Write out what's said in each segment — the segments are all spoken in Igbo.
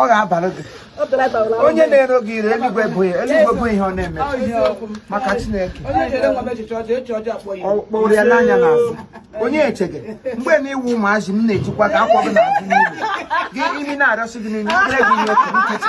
ọ ga-abara gị onye na-ero gị iro eluigwe bụ ya eluigwe bụ ihe ọ na-eme maka Chineke kpọrọ ya n'anya n'azụ onye echeghị mgbe na ị wụ ụmụazị m na-ejikwa gị akwọ gị n'azụ n'ihu gị imi na-arịọsị gị n'ime gị ihe otu nkịtị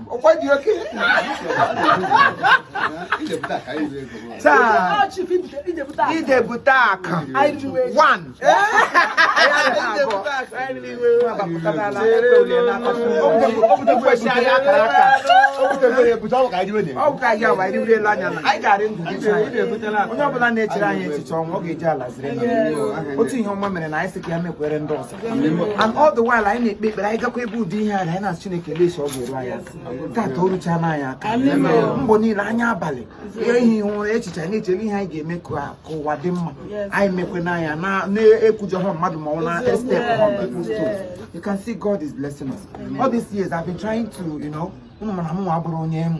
ọkwa dị okay taa idebute akụ one onye ọbụla na-echere anyị echiche ọnwụ ọ ga-eji ala ziri otu ihe ọma mere na anyị sị ka ya mekwere ndị ọzọ and all the while anyị na-ekpe ekpere anyị gakwa ebe ụdị ihe a anyị na-asị Chineke lesi ọ ga-eru anyị aka tata o ruchaana anyị aka mgbe niile anyị abalị ihe ihe ihu ụra echiche anyị na-echere ihe anyị ga-eme ka ụwa dị mma anyị mekwe na anyị na-ekwujọ ha mmadụ ma ọ na-estep on people's toes you can see God is blessing us all these years I've been trying to you know ụmụ mana m nwa bụrụ onye emu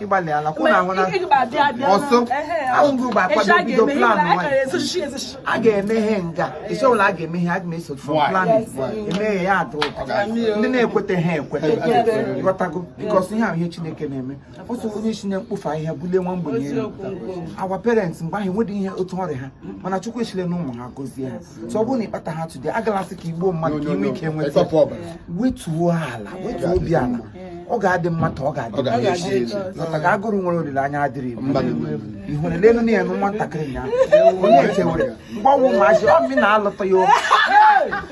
ịgbalị ala kwụ na ahụ na ọsọ ahụ gị ụgbọ akwado bido plan a ga-emeghe nga isi ọbụla a ga-emeghe a ga-eso from plan emeghe ya adụ ndị na-ekweta ha ekweta ị ghọtago because ihe a wụ ihe Chineke na-eme otu onye si na mkpofu ahịhịa bulie nwa ogbenye elu our parents mgbe ahụ enweghị ihe otu ọ rị ha mana chukwu echilena ụmụ ha gozie ha so ọ bụrụ na ị kpataha today agala sị ka i gbuo mmadụ ka i nwee ike nweta wetuo ala wetuo obi ala ọ ga-adị mma taa ọ ga-adị maka ka agụrụ nwere olileanya adịrị ihụrụ lenụ na ya na nwatakịrị ya onye echewere mgbe a wụ ụmụazị ọ na-alụta ya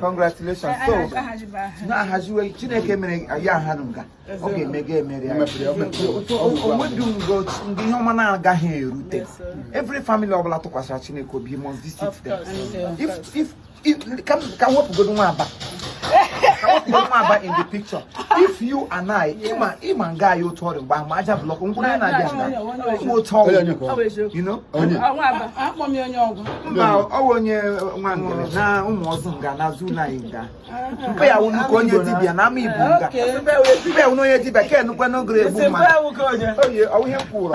congratulations so na-ahaziwe chineke mere ya ha nga ọ ga-eme ga emere o nwedị ngo ndị ihe ọma na-agaghị erute every family ọbụla tụkwasịra chineke obi must visit them if if ka m wepụgodo nwa aba ka wepụgodo nwa aba in the picture if you and I ị ma ị ma nga anyị otu ọ rị mgbe ahụ ma aja block nkwụrụ ya na-abịa nga ị ma otu ọ rị you know mba ọ wụ onye nwa ngere na ụmụ ọzọ nga na azụ ụlọ anyị nga mpa ya wụ nnukwu onye dibịa na ama ibu nga mpa ya wụ onye dibịa ka enukwe n'ogere egbu mmadụ oye ọ wụ ihe m kwuru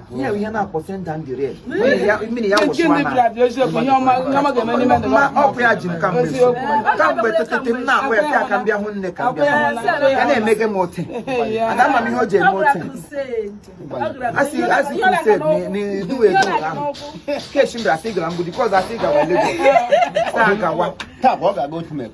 ihe ihe na-akpọ send down the rain mmiri ya wụsịwa na ọkụ ya ji m kamgbe kamgbe ụtụtụ m na-akpọ ya ka m bịa hụ nne ka m bịa ya na-emege m ote aga ama m ihe o ji eme ote asị a sị crusade n'iduwe edu ahụ keshi mbra asị gara mgbudi kọz asị gawa lego ọ gawa taa ọ ga-aga otu mebe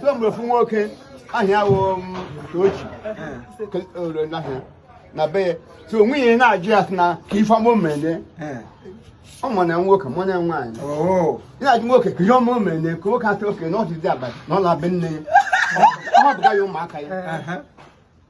so mgbe ofu nwoke aha ya wụ Ucheochi ore n'ahịa na be ya so o nwe ihe na-ajụ ya sị na ka ife ọma omene ọ ma na nwoke ma na nwaanyị na-ajụ nwoke ka ihe ọma omene ka nwoke a sị okay na ọdịdị abalị na ọ na-abịa nne ya ọ hapụga ya ụmụaka ya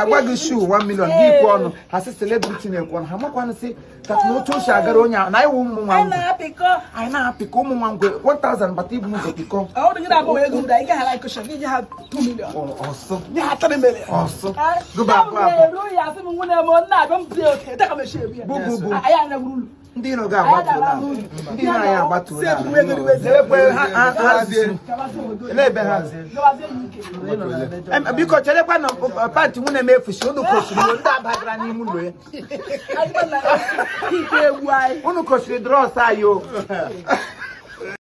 a gwa gị shoe 1 million gị ekwe ọnụ ha sị celebrity na-ekwe ọnụ ha amakwanụ sị ka na otu o si agara onye ahụ na ị wụ ụmụ nwa ngwe anyị na-apịkọ ụmụ nwa ngwe 1000 bata i bu ụzọ pịkọ ọsụ ọsụ gụba abụọ abụọ ndị iro gị agbatuola ndị iro anyị agbatuola n'ebe ha biko cherekwa na panty nwunye m efusi unu kosiri ndị a bagara n'ime ụlọ ya unu kosiri drawers anyị o